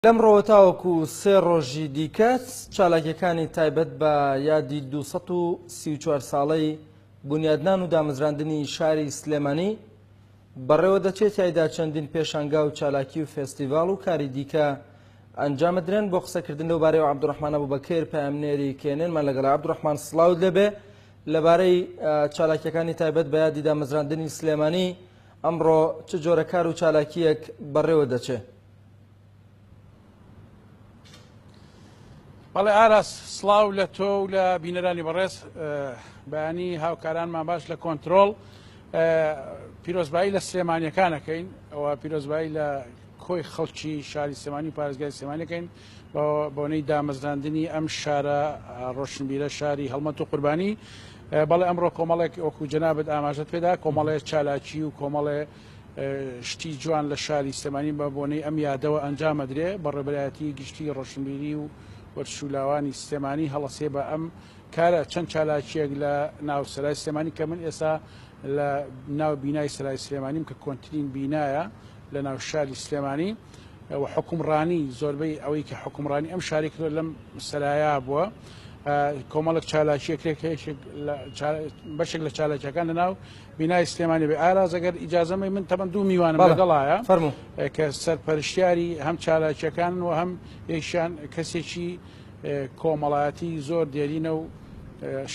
لەمڕۆوە تاوەکو سێ ڕۆژی دیکە چالاکیەکانی تایبەت بە یادی 234 ساڵەی بنیادنان و دامەزراندنی شاری سلێمانی بەڕێوە دەچێت تایدا چەندین پێشانگا و چالاکی و فستیڤال و کاری دیکە ئەنجامە درێن بۆ قسەکردن لەو بارەی و عبدڕحمانە بوو بەکەر پامنێری کێنێنمان لەگەڵ عبدڕحمان سلااو لەبێ لەبارەی چالاکیەکانی تایبەت بە یادی دامەزراندنی سلێمانی ئەمڕۆ چ جۆرە کار و چالاکیەک بەڕێوە دەچێت بەڵێ ئاراس سلااو لە تۆ و لە بینەرانی بەڕێز بەینی هاوکارانمان باش لە کۆنتترۆل پیرۆزبایی لە سلێمانیەکانەکەین ئەوە پیرۆزبایی لە کۆی خەڵکی شاری سلێمانی پارێزگای سلێمانەکەین بۆنەی دامەزراندنی ئەم شارە ڕۆشنبیرە شاری هەڵمەت و قوربانی بەڵێ ئەمڕۆ کۆمەڵێک وەکو جەنابەت ئاماژەت پێدا کۆمەڵێ چالاکی و کۆمەڵێ شتی جوان لە شاری سلێمانی بە بۆنەی ئەم یادەوە ئەنجام ئەدرێ بە ڕێبەرایەتی گشتی ڕۆشنبیری و وەرچولاوانی سلێمانی هەڵەسێ بە ئەم کارە چەند چالاکیەک لە ناو سەرای سلێمانی کە من ئێستا لە ناو بینای سەرای سلێمانیم کە کۆنتترین بینایە لە ناو شاری سلێمانی و حکومڕانی زۆربەی ئەوەی کە حکومڕانی ئەم شاری کردۆ لەم سەرایا بووە کۆمەڵک چالاکیەکرێک بەشێک لە چالاکیەکان لە ناو بینای سلێمانی بێ ئاراز ئەگەر ئیجازەمەی من تەمەن دوو میوانم لەگەڵایە فەرمو کە سەرپەرشتیاری هەم چالاکیەکان و هەم یشان کەسێکی کۆمەڵایەتی زۆر دێرینە و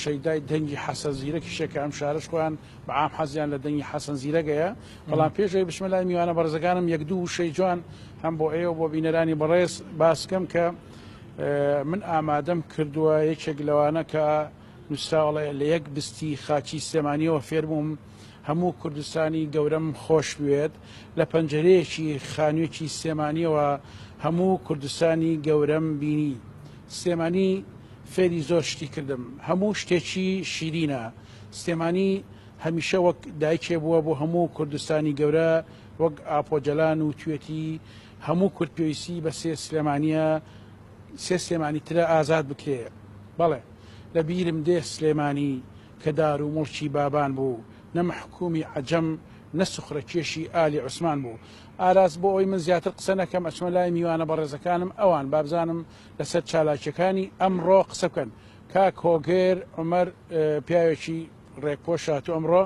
شەیدای دەنگی حەسە زیرەکی شەکە ئەم شارش خۆیان بە ئام حەزیان لە دەنگی حەسەن زیرەگەیە بەڵام پێشەوەی بچمە لای میوانە بەرزەکانم یەک دوو شەی جوان هەم بۆ ئێوە بۆ بینەرانی بەڕێز باسکەم کە من ئامادەم کردووە یەکێک لەوانە کە نوسراوەڵێ لە یەک بستی خاچی سلێمانیەوە فێربووم هەموو کوردستانی گەورەم خۆش بوێت لە پەنجەرەیەکی خانوێکی سلێمانیەوە هەموو کوردستانی گەورەم بینی سلێمانی فێری زۆر شتی کردم هەموو شتێکی شیرینە سلێمانی هەمیشە وەک دایکێ بووە بۆ هەموو کوردستانی گەورە وەک ئاپۆجەلان و توێتی هەموو کورد پێویستی بە سێ سلێمانیە سێ سلێمانی ترە ئازاد بکرێ بەڵێ لە بیرم دێ سلێمانی کە دار و موڵکی بابان بوو، نە مەحکوومی عەجەم، نە سوخرەکێشی ئالی عوسمان بوو. ئاراس بۆ ئەوەی من زیاتر قسە نەکەم، ئەچمە لای میوانە بەڕێزەکانم، ئەوان بابزانم لە سەر چالاکییەکانی ئەمڕۆ قسە بکەن. کاک هۆگر عومەر پیاوێکی ڕێکپۆش هاتوو ئەمڕۆ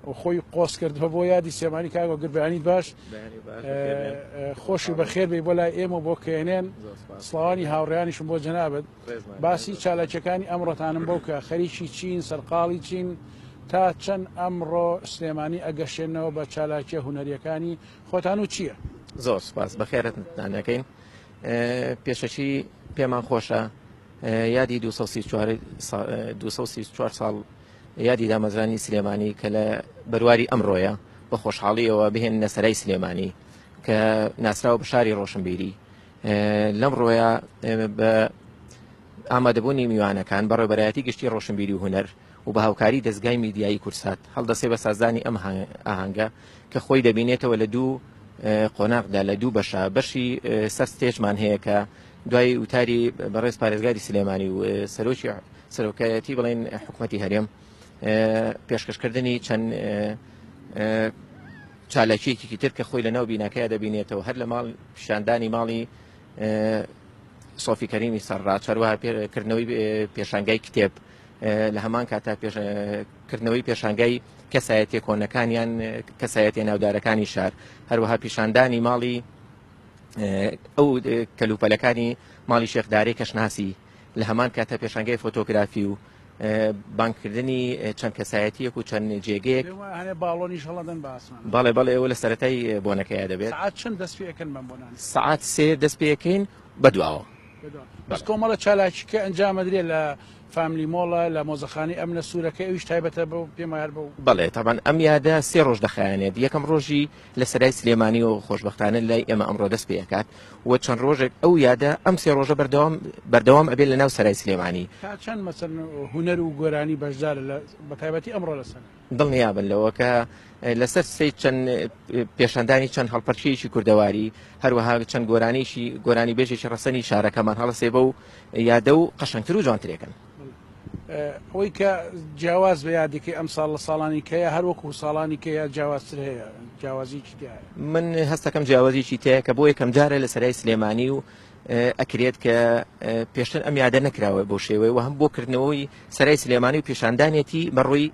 و خۆی قۆز کردووە بۆ یادی سلێمانی. کاک هۆگر بەیانیت باش. بەیانی باش بەخێر بێن. خۆشی بەخێر بێی بۆ لای ئێمە و بۆ کێنێن. زۆر سپاس. سڵاوانی هاوڕێیانیشم بۆ جەنابت. باسی چالاکیەکانی ئەمڕۆتانم بۆ بکە خەریکی چین سەرقاڵی چین تا چەند ئەمڕۆ سلێمانی ئەگەشێنەوە بە چالاکیە هوەریەکانی خۆتان و چییە زۆر سپاس بەخێرتدانەکەین پێشەکی پێمان خۆشە یادی 24 ساڵ یادی دامەزرانی سلێمانی کە لە بەرواری ئەمڕۆیە بە خۆشحاڵیەوە بهێن نەسەرای سلێمانی کە ناسراوە بە شاری ڕۆشنبیری لەم ڕۆیە بە ئامادەبوونی میوانەکان بە ڕێبەرایەتی گشتی ڕۆشنبیری و هوەر و بە هاوکاری دەستگای میدیایی کورسات هەڵدەسێ بە سازدانی ئەم ئاهنگە کە خۆی دەبینێتەوە لە دوو قۆناغدا لە دوو بەشە بەشی سەر ستێژمان هەیە کە دوای وتاری بەڕێز پارێزگاری سلێمانی و سەرۆکی سەرۆکایەتی بڵێن حکوومەتتی هەرێم پێشکەشکردنی چەند چالاکیەکێکی تر کە خۆی لە ناو بیناکەیا دەبینێتەوە هەر لە ماڵ پیشاندانی ماڵی سۆفی کەریمی سەرڕا چاروەها کردنەوەی پێشانگای کتێب لە هەمان کاتا کردنەوەی پێشانگای کەسایەتێ کۆنەکانیان کەسایەتێ ناودارەکانی شار هەروەها پیشاندانی ماڵی ئەو کەلوپەلەکانی ماڵی شێخدارەی کەشناسی لە هەمان کاتە پێشانگای فۆتۆگرافی و بانکردنی چەند کەسایەتیەک و چەند جێگەیەک باڵۆنیش هەڵدەن باسمان بەڵێ بەڵێ ئەوە لە سەتای بۆنەکەی دەبێت چەند دەست پێکەن بەم بۆنان سعات سێ دەست پێەکەین بەدواوە بەس کۆمەڵە چالاکیکە ئەنجامەدرێ لە فامیلی مۆڵە لە مۆزەخانی ئەم لە سوورەکە ئەوش تایبەتە بە پێمار بە بڵێ تاوان ئەم یادە سێ ڕۆژ دەخایەنێت یەکەم ڕۆژی لە سەرای سلێمانیەوە خۆشبەختانە لای ئێمە ئەمڕۆ دەست پێ ئەکات و چەند ڕۆژێک ئەو یادە ئەم سێ ڕۆژە بەردەوام بەردەوام ئەبێت لە ناو سەرای سلێمانی تا چەند مەسن هوەر و گۆرانی بەشدار بە تایبەتی ئەمڕۆ لەسەر دڵنیابن لەوە کە لەسەر سی چەند پێشاندانی چەند هەڵپەرچیەکی کوردەواری هەروەها چەند گۆرانیشی گۆرانی بێژێکی ڕەسەنی شارەکەمان هەڵسێ بە و یادە و قەشنگتر و جوانترێکن ئەوەی کە جیاواز بە یادەکەی ئەم ساڵ لە ساڵانی کەیە هەر وەکو ساڵانی کەیە جیاوازتر هەیە جیاوازیکی تایە من هەستەکەم جیاوازیکی تەیە کە بۆ یەکەم جارە لە سەرای سلێمانی و ئەکرێت کە پێشتر ئەم یادە نەکراوە بۆ شێوەیەوە هەم بۆ کردنەوەی سەرای سلێمانی و پیشاندانێتی بەڕووی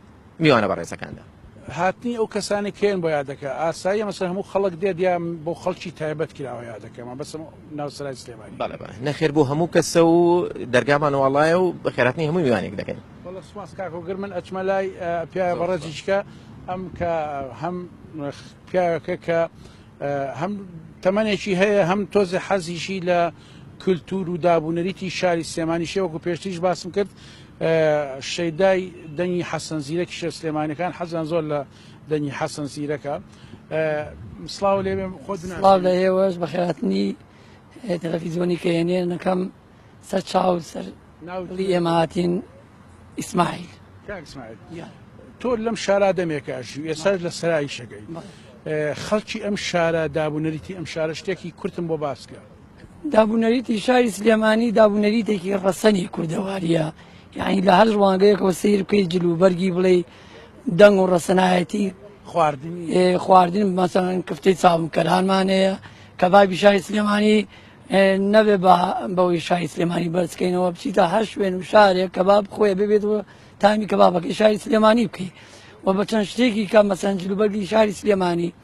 میوانە بەڕێزەکاندا. هاتنی ئەو کەسانەی کە یەن بۆ یادەکە ئاساییە مەسەن هەموو خەڵک دێت یا بۆ خەڵکی تایبەت کراوە یادەکە مەبەستم ناو سەرای سلێمانی بەڵێ بەڵێ نەخێر بۆ هەموو کەسە و دەرگامان واڵایە و بە خێراتنی هەموو میوانێک دەکەین وەڵا سوپاس کاک هۆگر من ئەچمە لای ئە، پیاوە زۆر بەڕێزی سوپاس چکە ئەم کە هەم پیاوەکە کە ئە، هەم تەمەنێکی هەیە هەم تۆزێ حەزیشی لە کلتور و داب و نەریتی شاری سلێمانیشە وەکو پێشتریش باسم کرد شەیدای دەنگی حەسەن زیرەکی شێ سلێمانەکان حەزیان زۆر لە دەنگی حەسەن زیرەکە سلااو لێ خۆ لە ئێوەش بەخاتنی تەلەفیزۆنی کەێنێ نەکەم سەر چاو سەر ناولی ئێماتین ئیسماعیل تۆ لەم شارا دەمێکە ژوو ئێساش لە سەرایشەکەی خەڵکی ئەم شارە دابوونەریتی ئەم شارە شتێکی کورتم بۆ باسکە دابونەریتی شاری سلێمانی دابونەریتێکی ڕەسەنی کوردەواریە یعنی لە هەر ڕوانگەیەکەوە سیر بکەیت جل و بەرگی بڵێ دەنگ و ڕەسەنایەتی خواردنی خواردن مەسەن کفتەی چاومکەرانمانەیە کە بابی شاری سلێمانی نەبێ بە بەوەی شای سلێمانی بەرزکەینەوە بچیتە هەر شوێن و شارێک کە باب خۆێ ببێت و تامی کە بابەکەی شاری سلێمانی بکەیت و بە چەند شتێکی کە مەسەنجلوبەرگی شاری سلێمانی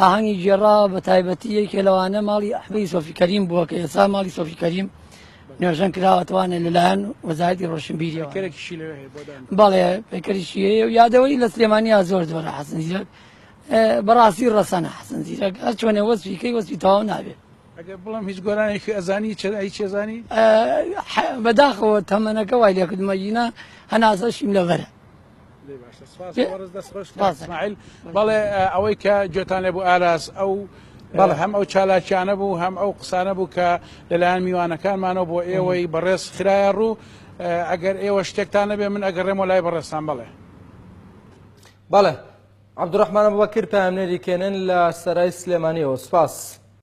ئاهەنگی گێڕا بە تایبەتی یەکێ لەوانە ماڵی ئەحمەدی سۆفی کەریم بووە کە ئێستا ماڵی سۆفی کەریم نوێژەن کراوەتوانە لەلایەن وەزارەتی ڕۆشنبیری بەڵێ پێکەریشی هەیە و یادەوەی لە سلێمانی زۆر زۆرە حەسن زیرەک بەڕاستی ڕەسەنە حەسن زیرەک هەر چۆنێ وەسفیکەی وەسفی تەواو نابێت بڵم هیچ گۆرانێکی ئەزانی چرای چێزانی بەداخەوە تەمەەکە وای لەکردمەگینا هەناسەشیم لەبەرە لێ باشە سپاس لێ- وەرز دەست خۆش سپاس. اسماعیل بەڵێ ئە، ئەوەی کە گوێتان لێ بوو ئاراس ئەو بەڵێ هەم ئەو چالاکیانە بوو هەم ئەو قسانە بوو کە لەلایەن میوانەکانمانەوە بۆ ئێوەی بەڕێز خرایە ڕوو ئە، ئەگەر ئێوە شتێکتان نەبێ من ئەگەڕێمەوە لای بەڕێزتان بەڵێ بەڵێ عەبدوڕەحمان ئەبوبەکر پەیامنێری کێنن لە سەرای سلێمانیەوە سپاس.